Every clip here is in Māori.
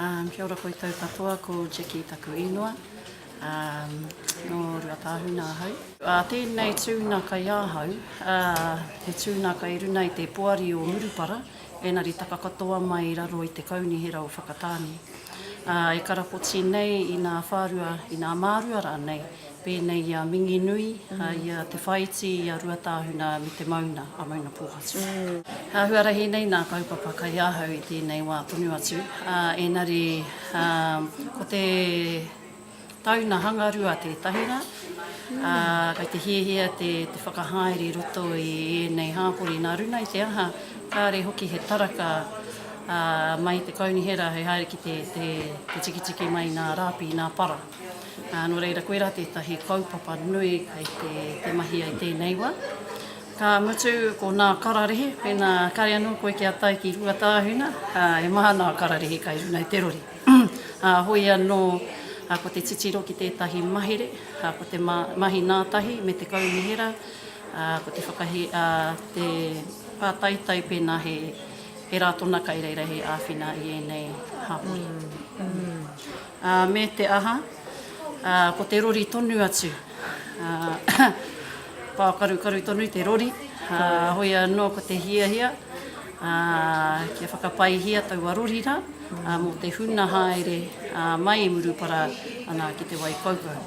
Um Kia ora koutou katoa, ko Jackie taku īnoa, um nō Ruatāhuna ahau. Uh Tēnei tuna kai ahau, uh he tuna kai runa i te poari o Murupara, ēnari taka katoa mai i raro i te Kaunihera o Whakatāne. Uh E karapoti nei i nā whārua, i nā mārua rānei, pēnei i a Minginui, i a Te Whaiti, i a Ruatāhuna me te Mauna, a Maunapōhatu. He āhuarahi nei nā kaupapa kai ahau i tēnei wā tonu atu, ā, ēnari, ā, ko te tauna hangarua tētahi rā, ā, kai te hiahia te whakahaere i roto i ēnei hāpori nā runa i te aha, kāre hoki he taraka, ā, mai te Kaunihera hei haere ki te tikitiki mai nā rāpi, nā para. Nō reira, koirā tētahi kaupapa nui kei te mahia i tēnei wā. Ka mutu, ko nā kararehe, pēnā kare anō koe kia tae ki Ruatāhuna, he maha nā kararehe kai runga i te rori. Hoi anō, ko te titiro ki tētahi mahere, ko te mahi nā tahi me te kaunihera, ko te whakahi, te pātaitai pēnā he rā tona kai reira hei āwhina i ēnei hapori. Ā, me te aha, ā, ko te rori tonu atu, ā, pākarukaru tonu te rori, ā, hoi anō ko te hiahia, ā, kia whakapaihia taua rori rā, ā, mō te huna haere, ā, mai i Murupara ana ki Te Waikaukau.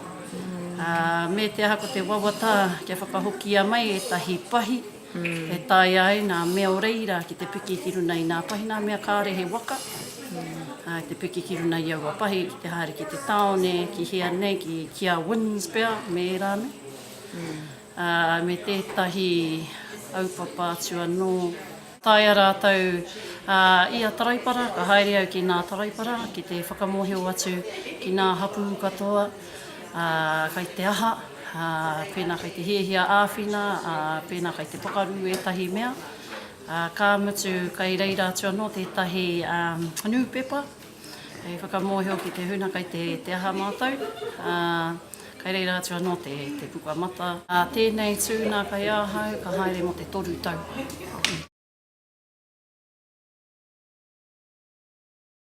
Ā, me te aha ko te wawata kia whakahokia mai ētahi pahi, E taea ai nā mea o reira ki te piki ki runa i nā pahi nā mea kāre he waka, ā, te piki ki runa i aua pahi ki te haere ki te tāone, ki hea nei, ki, ki a Wynns pea, me ērā nei. Ā, me tētahi aupapa atu anō. Taea rātou, ā, i a Taraipara, ka haere au ki nā Taraipara ki te whakamōhio atu ki nā hapū katoa. ā, kai te aha, ā, pēnā kai te hiahia āwhina, ā, pēnā kai te pakaru ētahi mea, ā, ka mutu kai reira atu anō tētahi ā, nūpepa hei whakamōhio ki te huna kai te, te aha mātou, ā, kai reira atu anō te, te pukamata. Ā, tēnei tūna kai ahau ka haere mō te toru tau.